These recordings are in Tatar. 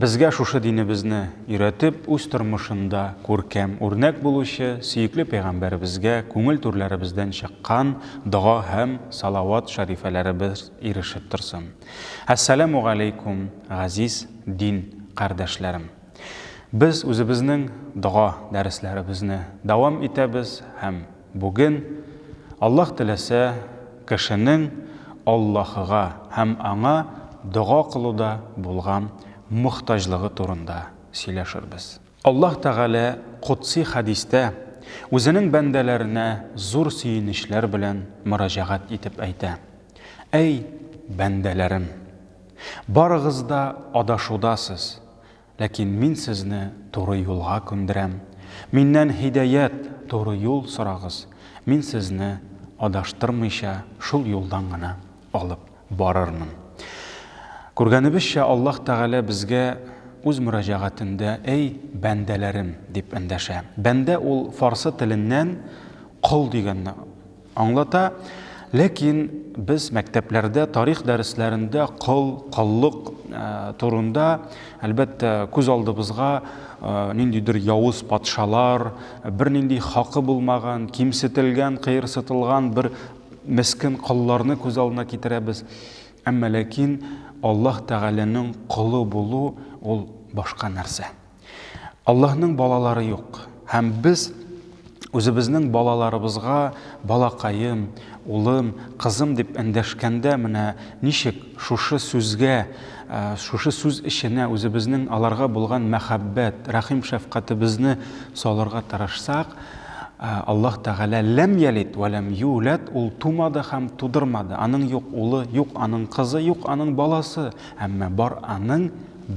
Безгә шушы динебезне өйрәтеп, үз тормышында күркәм үрнәк булучы сөекле пәйгамбәребезгә күңел түрләребездән чыккан дога һәм салават шәрифәләребез ирешеп торсын. Әссәләмү галәйкүм, газиз дин кардәшләрем! Без үзебезнең дога дәресләребезне дәвам итәбез һәм. Бүген, Аллаһ теләсә, кешенең Аллаһыга һәм Аңа дога кылуда булган мохтаҗлыгы турында сөйләшербез. Аллаһ Тәгалә котси хәдистә Үзенең бәндәләренә зур сөенечләр белән мөрәҗәгать итеп әйтә, Әй, бәндәләрем! Барыгыз да адашудасыз, Ләкин мин сезне туры юлга күндерәм. Миннән һидәят, туры юл сорагыз, мин сезне адаштырмыйча шул юлдан гына алып барырмын. Күргәнебезчә, Аллаһ Тәгалә безгә үз мөрәҗәгатендә Әй, бәндәләрем! дип эндәшә. Бәндә ул фарсы теленнән кол дигәнне Аңлата, ләкин без мәктәпләрдә тарих дәресләрендә кол, коллык турында, әлбәттә, күз алдыбызга ниндидер явыз патшалар, бернинди хакы булмаган, кимсетелгән, кыерсытылган бер мескен колларны күз алдына китерәбез. Әмма ләкин Аллаһ Тәгаләнең колы булу ул башка нәрсә. Аллаһның балалары юк. Һәм без үзебезнең балаларыбызга балакаем, улым, кызым дип эндәшкәндә менә ничек шушы сүзгә, шушы сүз эченә үзебезнең аларга булган мәхәббәт, рәхим-шәфкатебезне салырга тырышсак, Аллаһ Тәгалә ләм ялит вә ләм юләт, ул тумады һәм тудырмады, аның юк улы, юк аның кызы, юк аның баласы, әмма бар аның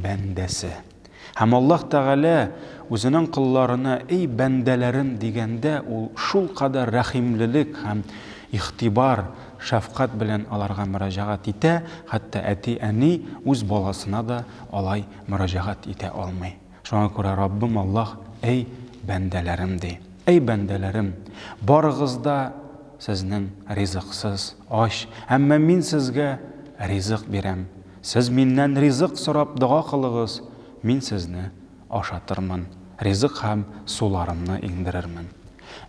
бәндәсе. Һәм Аллаһ Тәгалә үзенең колларына эй бәндәләрем дигәндә ул шулкадәр рәхимлелек һәм игътибар, шәфкать белән аларга мөрәҗәгать итә, хәтта әти-әни үз баласына да алай мөрәҗәгать итә алмый. Шуңа күрә Раббым Аллаһ эй бәндәләрем ди. Эй бәндәләрем, барыгыз да сезнең ризыксыз, ач, әмма мин сезгә ризык бирәм. Сез Миннән ризык сорап дога кылыгыз, Мин сезне ашатырмын, ризык һәм суларымны иңдерермен.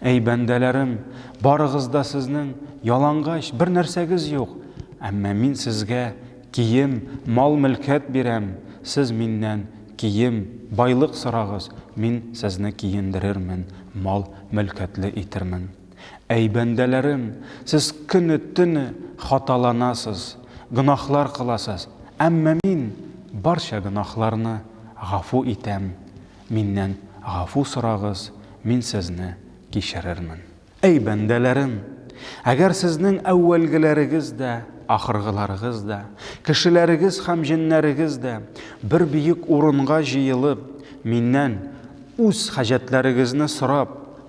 Әй бәндәләрем, барыгыз да сезнең, ялангач, бер нәрсәгез юк, әмма Мин сезгә кием, мал-мөлкәт бирәм, сез Миннән кием, байлык сорагыз, Мин сезне киендерермен, мал-мөлкәтле итермен. Әй бәндәләрем, сез көне-төне хаталанасыз, гөнаһлар кыласыз, әмма Мин барча гөнаһларны гафу итәм, Миннән гафу сорагыз, Мин сезне кичерермен. Әй бәндәләрем, әгәр сезнең әүвәлгеләрегез дә, ахыргыларыгыз да, кешеләрегез һәм җеннәрегез дә бер бөек урынга җыелып, Миннән үз хаҗәтләрегезне сорап,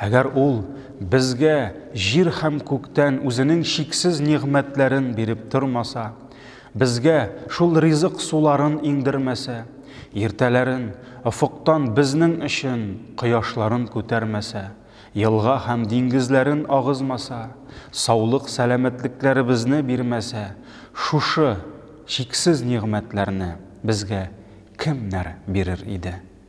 Әгәр Ул безгә җир һәм күктән Үзенең чиксез нигъмәтләрен биреп тормаса, безгә шул ризык суларын иңдермәсә, иртәләрен офыктан безнең өчен кояшларын күтәрмәсә, елга һәм диңгезләрен агызмаса, саулык-сәламәтлекләребезне бирмәсә, шушы чиксез нигъмәтләрне безгә кемнәр бирер иде?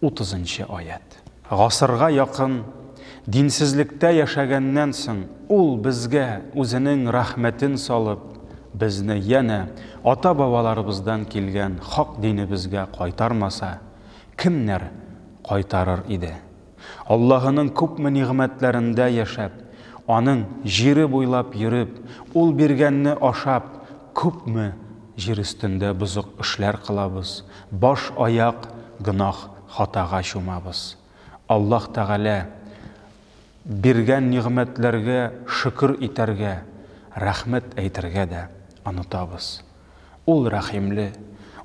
утызынчы аять. Гасырга якын динсезлектә яшәгәннән соң, Ул безгә Үзенең рәхмәтен салып, безне янә ата-бабаларыбыздан килгән хак динебезгә кайтармаса, кемнәр кайтарыр иде? Аллаһының күпме нигъмәтләрендә яшәп, Аның җире буйлап йөреп, Ул биргәнне ашап, күпме Җир өстендә бозык эшләр кылабыз, баш-аяк гөнаһ, хатага чумабыз. Аллаһ Тәгалә биргән нигъмәтләргә шөкер итәргә, рәхмәт әйтергә дә онытабыз. Ул Рәхимле,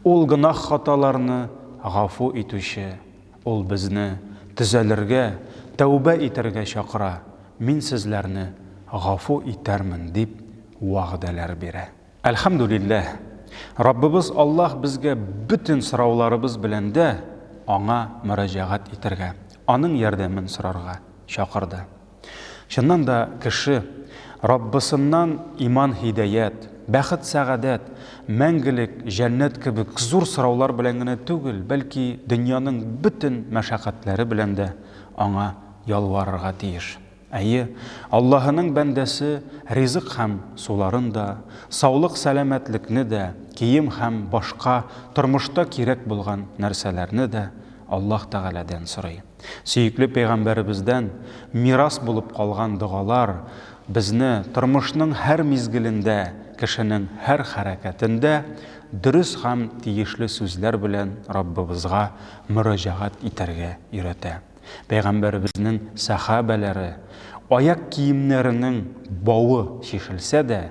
Ул гөнаһ-хаталарны гафу итүче, Ул безне төзәлергә, тәүбә итәргә чакыра, Мин сезләрне гафу итәрмен, дип вәгъдәләр бирә. Әлхәмдүлилләһ! Раббыбыз Аллаһ безгә бөтен сорауларыбыз белән дә Аңа мөрәҗәгать итәргә, Аның ярдәмен сорарга чакырды. Чыннан да, кеше Раббысыннан иман-һидәят, бәхет-сәгадәт, мәңгелек җәннәт кебек зур сораулар белән генә түгел, бәлки дөньяның бөтен мәшәкатьләре белән дә Аңа ялварырга тиеш. Әйе, Аллаһының бәндәсе ризык һәм суларын да, саулык-сәламәтлекне дә, кием һәм башка тормышта кирәк булган нәрсәләрне дә Аллаһ Тәгаләдән сорый. Сөекле пәйгамбәребездән мирас булып калган догалар безне тормышның һәр мизгелендә, кешенең һәр хәрәкәтендә дөрес һәм тиешле сүзләр белән Раббыбызга мөрәҗәгать итәргә өйрәтә. Пәйгамбәребезнең сәхабәләре, аяк киемнәренең бавы чишелсә дә,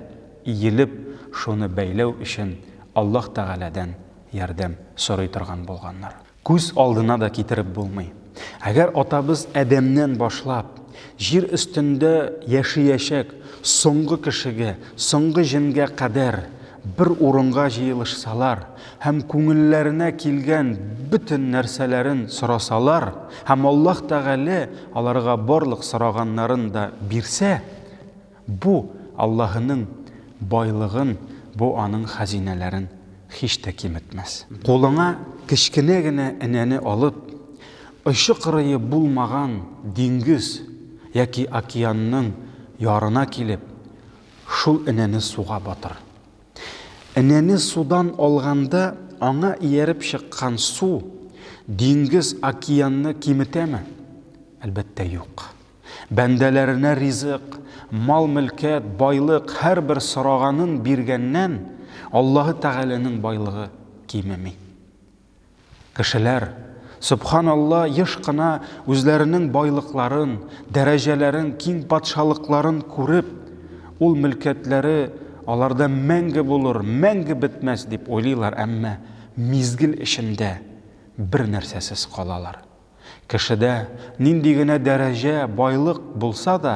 иелеп, шуны бәйләү өчен Аллаһ Тәгаләдән ярдәм сорый торган булганнар. Күз алдына да китереп булмый. Әгәр атабыз Адәмнән башлап, җир өстендә яшиячәк соңгы кешегә, соңгы җенгә кадәр Бер урынга җыелышсалар һәм күңелләренә килгән бөтен нәрсәләрен сорасалар һәм Аллаһ Тәгалә аларга барлык сораганнарын да бирсә, бу, Аллаһының байлыгын, бу, Аның хәзинәләрен һич тә киметмәс. Кулыңа кечкенә генә энәне алып, очы-кырые булмаган диңгез яки океанның ярына килеп, Шул энәне суга батыр. Энәне судан алганда, аңа ияреп чыккан су диңгез, океанны киметәме? Әлбәттә, юк. Бәндәләренә ризык, мал-мөлкәт, байлык, һәрбер сораганын биргәннән, Аллаһы Тәгаләнең байлыгы кимеми. Кешеләр, сөбханалла, еш кына үзләренең байлыкларын, дәрәҗәләрен, киң патшалыкларын күреп, ул мөлкәтләре аларда мәңге булыр, мәңге бетмәс дип уйлыйлар, әмма мизгел эчендә бер нәрсәсез калалар. Кешедә нинди генә дәрәҗә, байлык булса да,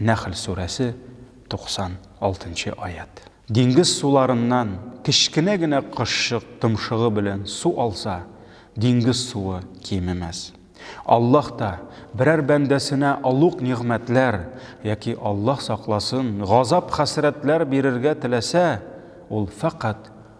Нәхл сүрәсе, 96 нчы аять. Диңгез суларыннан кечкенә генә кошчык томшыгы белән су алса, диңгез суы кимемәс. Аллаһ та берәр бәндәсенә олуг нигъмәтләр яки, Аллаһ сакласын, газап-хәсрәтләр бирергә теләсә, ул фәкать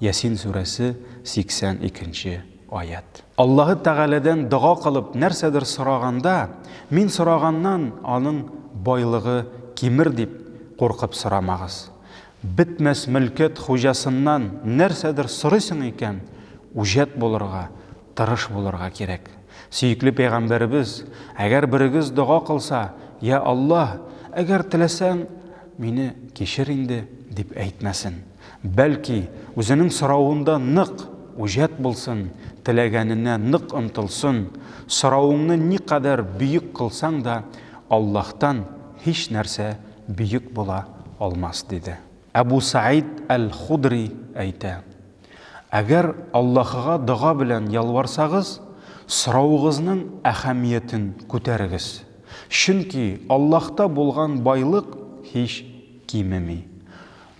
Ясин сүрәсе 82 нче аять. Аллаһы Тәгаләдән дога кылып нәрсәдер сораганда, мин сораганнан аның байлыгы кимер дип куркып сорамагыз. Бетмәс мөлкәт хуҗасыннан нәрсәдер сорыйсың икән, үҗәт булырга, тырыш булырга кирәк. Сөекле пәйгамбәребез, Әгәр берегез дога кылса, Йә Аллаһ, әгәр теләсәң, мине кичер инде, дип әйтмәсен. Бәлки, үзенең соравында нык, үҗәт булсын, теләгәненә нык омтылсын, соравыңны никадәр бөек кылсаң да, Аллаһтан һич нәрсә бөек була алмас, диде. Әбу Сәид әл-Худри әйтә, Әгәр Аллаһыга дога белән ялварсагыз, соравыгызның әһәмиятен күтәрегез, чөнки Аллаһта булган байлык һич кимеми.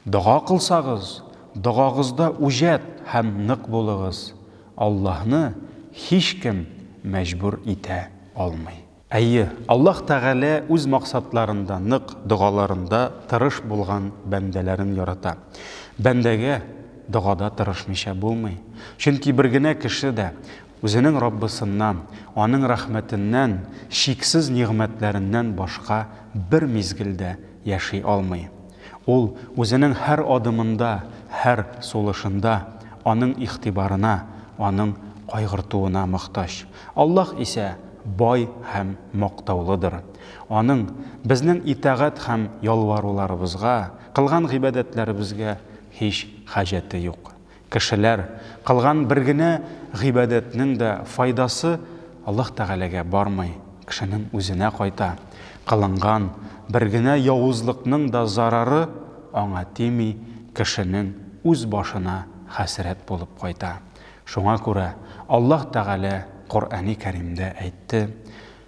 Дога кылсагыз, догагызда үҗәт һәм нык булыгыз, Аллаһны һичкем мәҗбүр итә алмый. Әйе, Аллаһ Тәгалә үз максатларында нык, догаларында тырыш булган бәндәләрен ярата. Бәндәгә догада тырышмыйча булмый. Чөнки бер генә кеше дә Үзенең Раббысыннан, Аның рәхмәтеннән, чиксез нигъмәтләреннән башка бер мизгел дә яши алмый. Ул үзенең һәр адымында, һәр сулышында Аның игътибарына, Аның кайгыртуына мохтаҗ. Аллаһ исә бай һәм мактаулыдыр. Аның безнең итагать һәм ялваруларыбызга, кылган гыйбадәтләребезгә һич хаҗәте юк. Кешеләр, кылган бер генә гыйбадәтнең дә файдасы Аллаһ Тәгаләгә бармый, кешенең үзенә кайта. Кылынган бер генә явызлыкның да зарары аңа тими, кешенең үз башына хәсрәт булып кайта. Шуңа күрә Аллаһ Тәгалә Коръәни Кәримдә әйтте,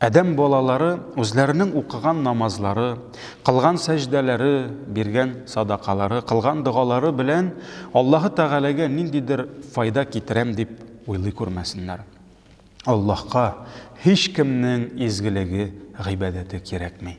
Адәм балалары үзләренең укыган намазлары, кылган сәҗдәләре, биргән садакалары, кылган догалары белән Аллаһы Тәгаләгә ниндидер файда китерәм дип уйлый күрмәсеннәр. Аллаһка һичкемнең изгелеге, гыйбадәте кирәкми.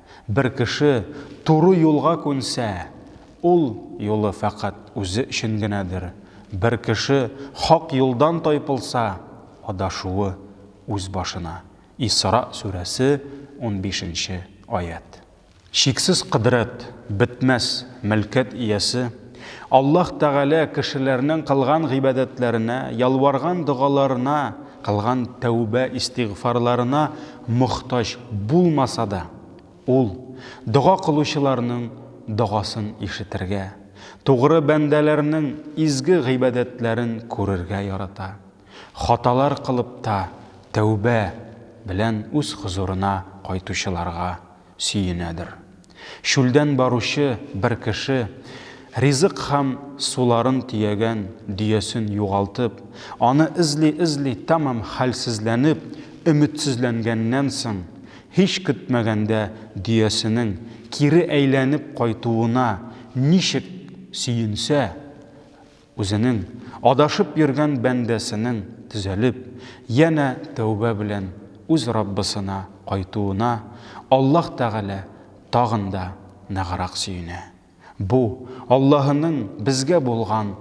Бер кеше туры юлга күнсә, ул юлы фәкать үзе өчен генәдер, бер кеше хак юлдан тайпылса, адашуы үз башына. Исра сүрәсе, унбиш нче аять. Чиксез кодрәт, бетмәс мөлкәт иясе Аллаһ Тәгалә кешеләрнең кылган гыйбадәтләренә, ялварган догаларына кылган тәүбә-истигъфарларына мохтаҗ булмаса да, Ул дога кылучыларның догасын ишетергә, тугры бәндәләрнең изге гыйбадәтләрен күрергә ярата. Хаталар кылып та, тәүбә, белән Үз хозурына кайтучыларга сөенәдер. Чүлдән баручы бер кеше, ризык һәм суларын төягән дөясен югалтып, аны эзли-эзли тәмам хәлсезләнеп, өметсезләнгәннән соң, һич көтмәгәндә дөясенең кире әйләнеп кайтуына ничек сөенсә, Үзенең, адашып йөргән бәндәсенең төзәлеп, янә тәүбә белән үз Раббысына кайтуына Аллаһ Тәгалә тагын да ныграк сөенә. Бу, Аллаһының безгә булган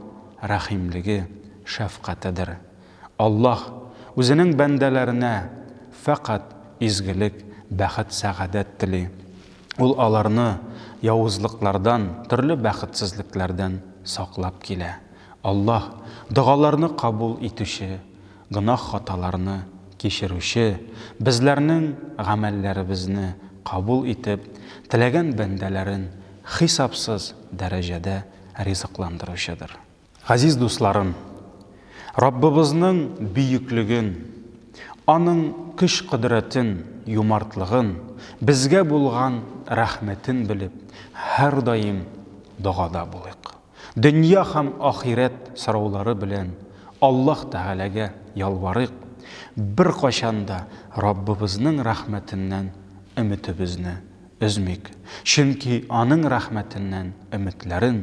рәхимлеге, шәфкатедер. Аллаһ Үзенең бәндәләренә фәкать изгелек, бәхет-сәгадәт тели. Ул аларны явызлыклардан, төрле бәхетсезлекләрдән саклап килә. Аллаһ, догаларны кабул итүче, гөнаһ-хаталарны кичерүче, безләрнең гамәлләребезне кабул итеп, теләгән бәндәләрен хисапсыз дәрәҗәдә ризыкландыручыдыр. Газиз дусларым, Раббыбызның бөеклеген, аның көч-кодрәтен, юмартлыгын, безгә булган рәхмәтен белеп, һәрдаим догада булыйк. Дөнья һәм ахирәт сораулары белән Аллаһ Тәгаләгә ялварыйк, беркайчан да Раббыбызның рәхмәтеннән өметебезне Өзмик, чөнки Аның рәхмәтеннән өметләрен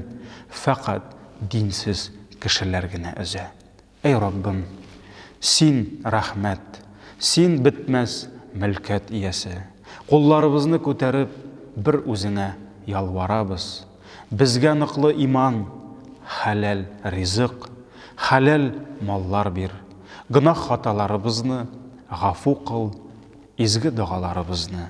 фәкать динсез кешеләр генә өзә. Әй Раббым, Син, рәхмәт, Син, бетмәс мөлкәт иясе. Кулларыбызны күтәреп, бер Үзеңә ялварабыз. Безгә ныклы иман, хәләл ризык, хәләл маллар бир. Гөнаһ-хаталарыбызны гафу кыл, изге догаларыбызны